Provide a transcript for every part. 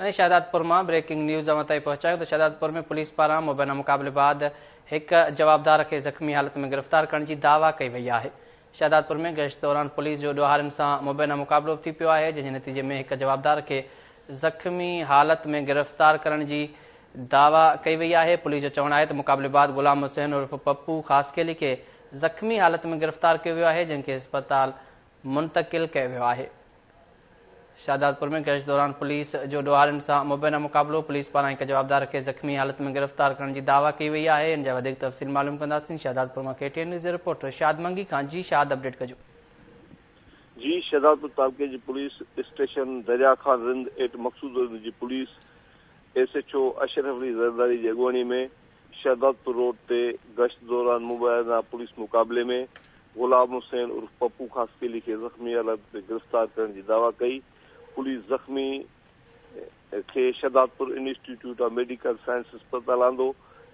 ۽ شهدادپور مان breaking news اوهان تائين پهچايون ته شهدادپور ۾ پوليس پاران مبينا مقابلي بعد هڪ جوابدار کي زخمي حالت ۾ گرفتار ڪرڻ جي دعويٰ ڪئي وئي آهي. شهدادپور ۾ گشت دوران پوليس جو ڏوهارين سان مبينا مقابلو ٿي پيو آهي جنهن جي نتيجي ۾ هڪ جوابدار کي زخمي حالت ۾ گرفتار ڪرڻ جي دعويٰ ڪئي وئي آهي. پوليس جو چوڻ آهي ته مقابلي بعد غلام حسين عرف پپو خاصخيلي کي زخمي حالت ۾ گرفتار ڪيو ويو آهي جنهن کي اسپتال منتقل ڪيو ويو آهي. شهدادپور ۾ گشت دوران پوليس جو ڏوهارين سان مبينا مقابلو، پوليس پاران هڪ جوابدار کي زخمي حالت ۾ گرفتار ڪرڻ جي دعويٰ ڪئي وئي آهي ان جا وڌيڪ تفصيل معلوم ڪنداسين شهدادپور مان ڪي ٽي اين نيوز جي رپورٽر شاد منگي کان جي شاد اپڊيٽ ڪجو. جي شهدادپور تعلقي جي police station Darya Khan Rind at Maqsood Rind جي police S H O Ashraf Ali Zardari جي اڳواڻي ۾ شهدادپور روڊ تي گشت دوران مبينا پوليس مقابلي ۾ غلام حسين عرف پپو خاصخيلي کي زخمي حالت ۾ گرفتار ڪرڻ جي دعويٰ ڪئي، پوليس زخمي کي Shahdadpur institute of medical science اسپتال آندو،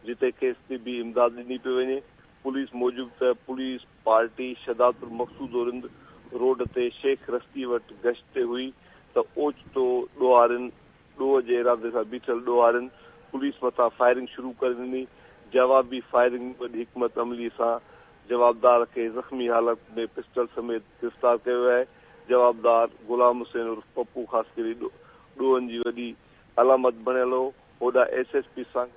جتي کيس طبي امداد ڏني پئي وڃي، پوليس موجب ته پوليس پارٽي شھدادپور مقصودورند روڊ تي شيخ رستي وٽ گشت تي ھئي ته اوچتو ڏوھارين ڏوهه جي ارادي سان بيٺل ڏوهارين پوليس مٿان فائرنگ شروع ڪري ڏني، جوابي فائرنگ ۾ وڏي حڪمت عملي سان جوابدار کي زخمي حالت ۾ پسٽل سميت گرفتار ڪيو ويو آهي، جوابدار غلام حسين عرف پپو خاصخيلي ڏوهن جي وڏي علامت بڻيل هو، هوڏانهن S S P Sangi.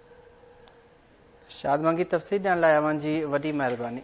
Shad Mangi تفصيل ڏيڻ لاء اوهان جي وڏي مهرباني.